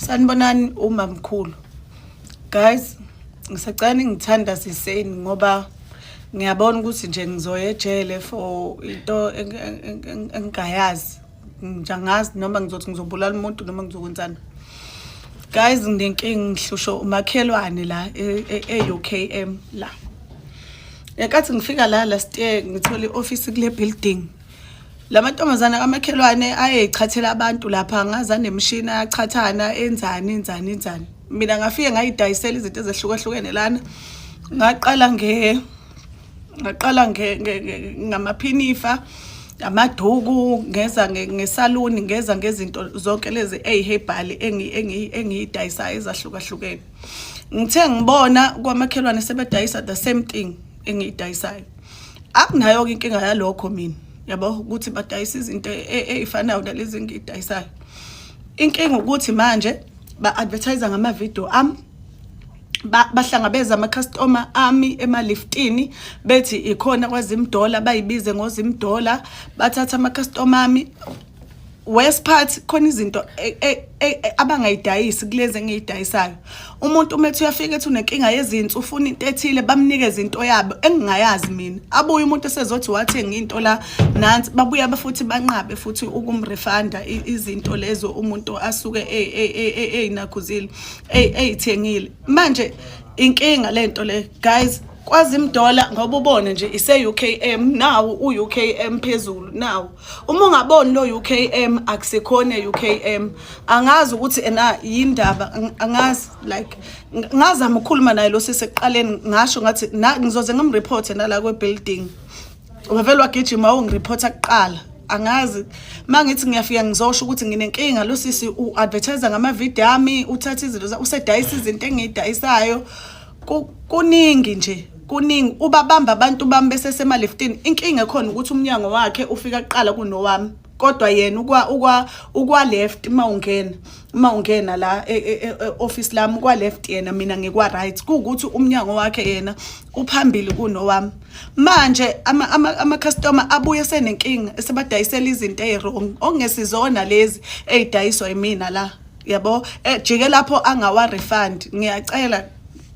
sanibonani umamkhulu guys ngisacela ningithanda siseni ngoba ngiyabona ukuthi nje ngizoya ejele for into engingayazi ngijangazi noma ngizothi ngizobulala umuntu noma ngizokwenzani guys nginenkingi ngihlushwa umakhelwane la e-UKM e, e la ngenkathi ngifika la last year ngithole i-ofisi kule building lamantombazana kamakhelwane ayeyichathela abantu lapha ngaza nemishini ayachathana enzani enzani enzani mina ngafike ngayidayisela izinto ezehlukahlukene lana ngaqala nge ngaqala nge ngamaphinifa amaduku ngeza ngesaluni ngeza ngezinto zonke lezi eyiherbal engiyidayisayo ezahlukahlukene ngithe ngibona kwamakhelwane sebedayisa the same thing engiyidayisayo akunayo-ke inkinga yalokho mina yabo ukuthi badayisa izinto e, e, ey'fanayo nalezi engiyidayisayo inkinga ukuthi manje ba-advertise ngamavidiyo ami bahlangabeza ama-customer ami emaliftini bethi ikhona kwazimdola bayibize ngozimdola bathatha ama-customer ami worst part khona izinto e, e, e, abangayidayisi kulezi engiyidayisayo umuntu uma ethi uyafika ethi unenkinga yezinto ufuna into ethile bamnikeze into yabo engingayazi mina abuye umuntu esezothi wathenga into la nansi babuye abafuthi banqabe futhi ukumrefunda izinto lezo umuntu asuke eyinakhuzile eyithengile manje inkinga lento le guys kwazi imdola ngoba ubone nje ise UKM nawo uUKM phezulu nawo Uma ungaboni lo UKM akusekhona UKM angazi ukuthi ena yindaba angazi like ngazama ukukhuluma naye lo sisi ekuqaleni ngasho ngathi ngizoze ngimreport nala kwe building wavele wagijima ungireport kuqala angazi mangithi ngiyafika ngizosho ukuthi nginenkinga lo sisi u advertise ngama video ami uthatha izinto usedayisa izinto engiyidayisayo kuningi nje kuningi ubabamba abantu bami besesema-leftini inkinga ekhona ukuthi umnyango wakhe ufika kuqala kunowami kodwa yena ukwa ukwa ukwa left uma ungena uma ungena la e, e, e, office lami kwa left yena mina ngikwa right kuukuthi umnyango wakhe yena uphambili kunowami manje ama ama, ama customer abuye senenkinga esebadayisela izinto eziwrong ongesizona lezi ezidayiswa yimina la yabo ejike eh, lapho angawa refund ngiyacela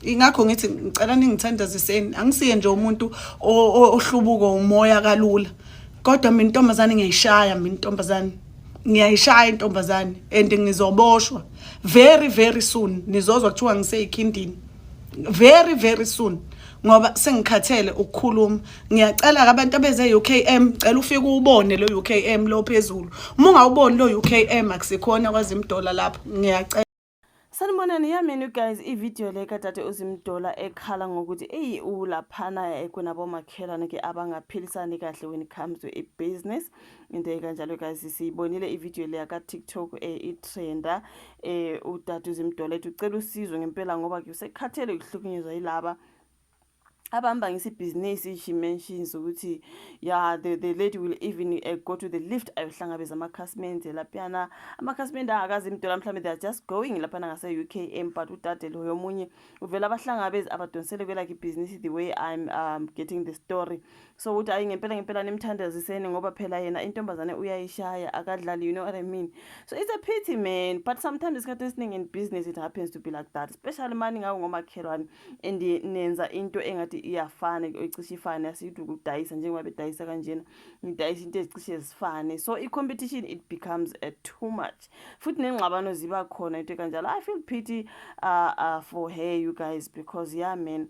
ingakho ngithi ngicela ningithandaziseni angisiye nje umuntu ohlubuko umoya kalula kodwa mina intombazane ngiyayishaya mina intombazane ngiyayishaya intombazane and ngizoboshwa very very soon nizozwa kuthiwa ngiseyikhindini very very soon ngoba sengikhathele ukukhuluma ngiyacela-ke abantu abeze UKM cela ufike uwubone lo UKM lo phezulu uma ungawuboni lo UKM akusikhona kwazi imdola lapho ngiyacela Sanibonani yamini you guys ivideo le kadade uzimdola ekhala ngokuthi eyi ulaphana kunabomakhelwane ke abangaphilisani kahle when it comes to i-business into ekanjalo guys siyibonile ivideo le yaka-tiktok um eh, itrenda um eh, udade uzimdola ethi ucela usizo ngempela ngoba ke usekhathele ukuhlukunyezwa yilaba abahamba ngesibhizinisi she mentions ukuthi ya the, the lady will even uh, go to the lift ayohlangabeza amakhasimende laphiyana amakhasimende angakazi imdola mhlawumbe they are just going laphana ngase-u k m but udade loyo omunye uvele abahlangabezi abadonsele kwelakhe ibhizinisi the way i'm um, getting the story so ukuthi ayi ngempela ngempela nimthandaziseni ngoba phela yena intombazane uyayishaya akadlali you know what i mean so it's a pity man but sometimes isikhathi esiningi in business it happens to be like that especially mani ngawo ngomakhelwane and nenza into engathi iyafana icishe ifane asiyithi ukudayisa njengoba bedayisa kanjena ngidayisa into ezicishe zifane so i-competition it becomes a too much futhi nengxabano ziba khona into kanjalo i feel pity uh, uh, for her you guys because yeah man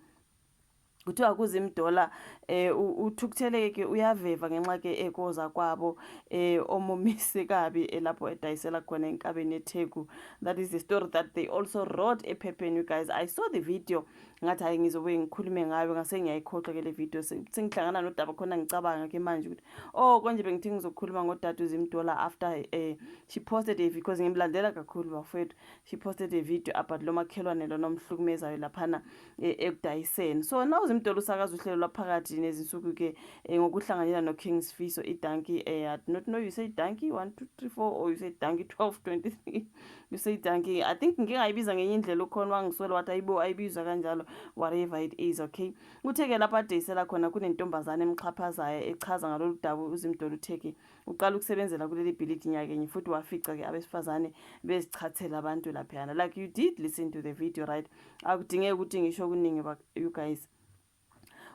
kuthiwa kuzimdola eh uthukutheleke ke uyaveva ngenxa ke ekoza kwabo eh omumise kabi elapho eh, edayisela khona enkabeni eTheku that is the story that they also wrote ephepheni you guys i saw the video ngathi hayi ngizobuye ngikhulume ngayo ngase ngiyayikhohlwa ke le video sengihlangana nodaba khona ngicabanga ke manje ukuthi oh konje bengithi ngizokhuluma ngodade uzimdola after eh she posted a video because ngimlandela kakhulu bafethu she posted a video about lo makhelwane lo nomhlukumezayo laphana e, ekudayiseni so na uzimdolo usakaza uhlelo lwaphakathi nezinsuku ke e, ngokuhlanganyela no King Sifiso i donkey e, I do not know you say donkey 1 2 3 4 or you say donkey 12 23 you say donkey I think ngike ngayibiza ngenye indlela ukhona wangiswela wathi ayibo ayibizwa kanjalo whatever it is okay uthe ke lapha adayisela khona kunentombazane emxhaphazayo echaza ngalolu dabu uzimdolo uthe ke uqala ukusebenzela kuleli bhilidi nyakenye futhi wafica ke abesifazane bezichathela abantu laphayana like you did listen to the video right akudingeki ukuthi ngisho okuningi you guys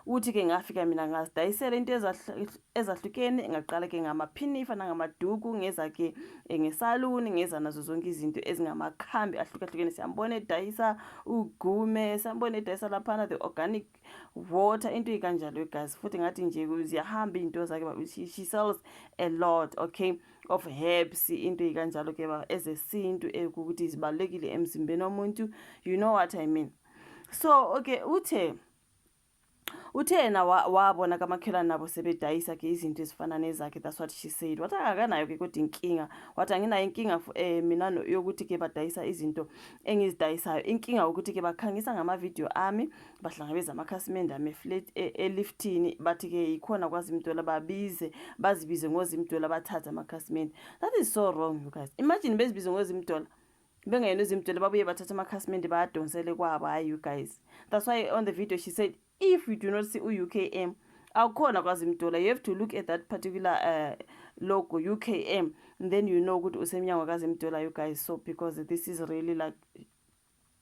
uthi ke ngafika mina ngazidayisela into ezahlukene ngaqala ke ngamaphinifa nangamaduku ngeza ke eh, ngesaluni ngeza nazo zonke izinto ezingamakhambi ahlukahlukene siyambona edayisa ugume siyambona edayisa laphana the organic water into ikanjalo igazi futhi ngathi nje ziyahamba izinto zakhe but she, she sells a lot okay of herbs into ikanjalo ke ba ezesintu ekuthi zibalekile emzimbeni womuntu you know what i mean so okay uthe uthe yena wabona kamakhelwane nabo sebedayisa ke izinto ezifana nezakhe that's what she said wathi akakanayo ke kodwa inkinga wathi anginayo inkinga eh, mina yokuthi ke badayisa izinto engizidayisayo inkinga ukuthi ke bakhangisa ngamavidiyo ami bahlangabeza amakhasimende ame flat e, eliftini bathi ke yikhona kwazimdola babize bazibize ngozimdola bathathe amakhasimende that is so wrong you guys imagine bezibize ngozimdola bengayena uzimdola babuye bathatha amakhasimende bayadonsele kwabo hayi you guys that's why on the video she said if you do not see u-ukm awukhona kwazi mdola you have to look at that particular uh, logo ukm then you know ukuthi usemnyango kazi mdola you guys so because this is really like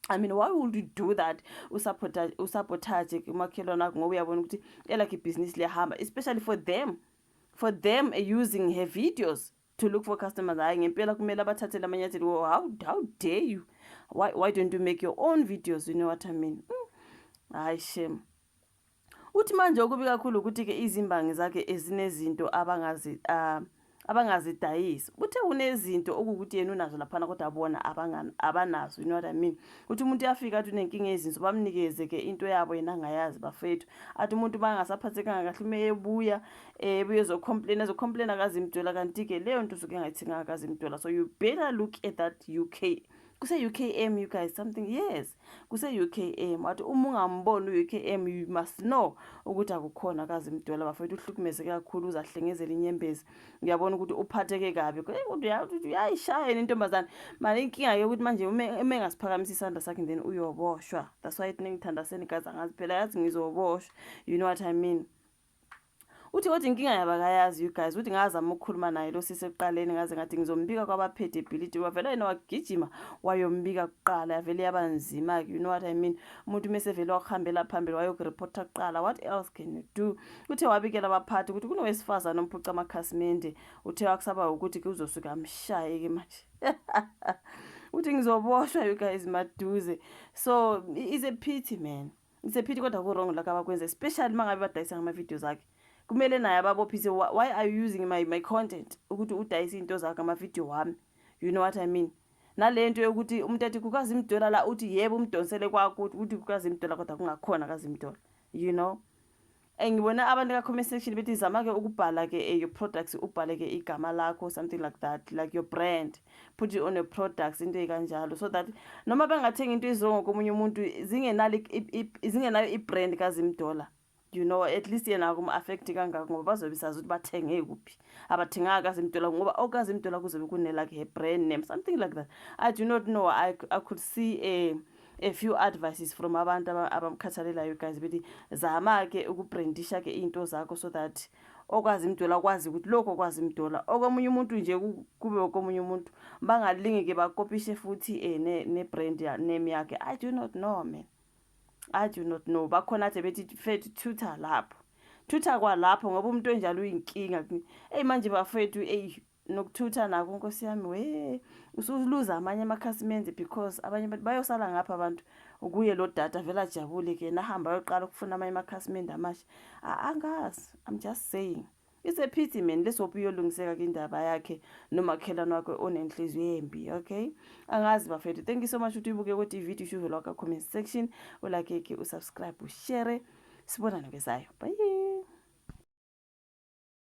I mean why would you do that usabotage usabotage kumakhelwane akho ngoba uyabona ukuthi elakhe ibhizinisi liyahamba especially for them for them using her videos to look for customers hayi ngempela kumele abathathele amanyathelo oh, how, how dare you why, why don't you make your own videos you know what i mean mm. hayi shame Uthi manje okubi kakhulu ukuthi-ke izimbangi zakhe ezinezinto abangazi uh, abangazidayisi kuthe kunezinto okuwukuthi yena unazo laphana kodwa bona abanazo you know what i mean ukuthi umuntu uyafika athi unenkinga yezinso bamnikeze ke into yabo yena angayazi bafethu athi umuntu uma engasaphathekanga kahle uma ebuya eh, ebuye ezocomplain ezocomplain akazimdola kanti-ke leyo nto usuke engayithenganga akazimdola so you better look at that uk kuse-ukm you guys something yes kuse-UKM wathi uma ungamboni u-UKM you must know ukuthi akukhona kazi mdwela bafethu uhlukumezeke kakhulu uze ahlengezele inyembezi uyabona ukuthi uphatheke kabi uyayishaya yena intombazane manje inkinga yokuthi manje uma engasiphakamisa isandla sakhe then uyoboshwa that's why ningithandaseni gazi angazi phela yazi ngizoboshwa you know what i mean Uthi kodwa inkinga yabo akayazi you guys ukuthi ngazama ukukhuluma naye lo sisi ekuqaleni ngaze ngathi ngizombika kwabaphethe ibhilidi wavela yena wagijima wayombika kuqala yavele yaba nzima ke you know what i mean umuntu mese vele wakuhambela phambili wayokureporta kuqala what else can you do uthe wabikela abaphathi ukuthi kunowesifazane omphuca amakhasimende uthe wakusaba ukuthi ke uzosuka amshaye ke manje uthi ngizoboshwa you guys maduze so is a pity man Ngisephithi kodwa ku-wrong lokho abakwenza especially uma ngabe badayisa ngama-videos akhe kumele naye ababophise why are you using my, my content ukuthi udayise iy'nto zakho amavidiyo wami you know what i mean nale nto yokuthi umuntu athi kukazi imdola la uthi yebo umdonsele kwakuthi ukuthi kukazi imdola kodwa kungakhona kazi imdola you know Eh, ngibona abantu ka-comment section bethi zama-ke ukubhala-ke eh, your products ubhale-ke igama lakho something like that like your brand put it on your products into ekanjalo so that noma bengathenga into izongo komunye umuntu zingenayo i-brand kazimdola you know at least yena kuma-affekthi kangako ngoba bazobe sazi ukuthi bathenge kuphi abathenganga kazimdola ngoba okazimdola kuzobe kunelakhe her brand name something like that i do not know i, I could see a eh, a few advices from abantu abamkhathalelayo guys bethi zama-ke ukubrandisha-ke iy'nto zakho so that okwazi imdola akwazi ukuthi lokho okwazi imdola okomunye umuntu nje kube okomunye umuntu bangalingi-ke bakopishe futhi um ne-brand name yakhe i do not know man i do not know bakhona athe bethi fethu tutor lapho thutha kwalapho ngoba umuntu onjalo uyinkinga eyi manje bafethu eyi nokuthutha nako nkosi yami we usuluza amanye amakhasimende because abanye abantu bayosala ngapha abantu kuye lo data vele ajabule ke nahamba ayoqala ukufuna amanye amakhasimende amasha angazi i'm just saying it's a pity man lesophi uyolungiseka ke indaba yakhe nomakhelwane wakhe onenhliziyo embi okay angazi bafethu thank you so much ukuthi uyibuke kwethi ivideo ishuve lwakho comment section ulake ke usubscribe ushare sibonane kwesayo bye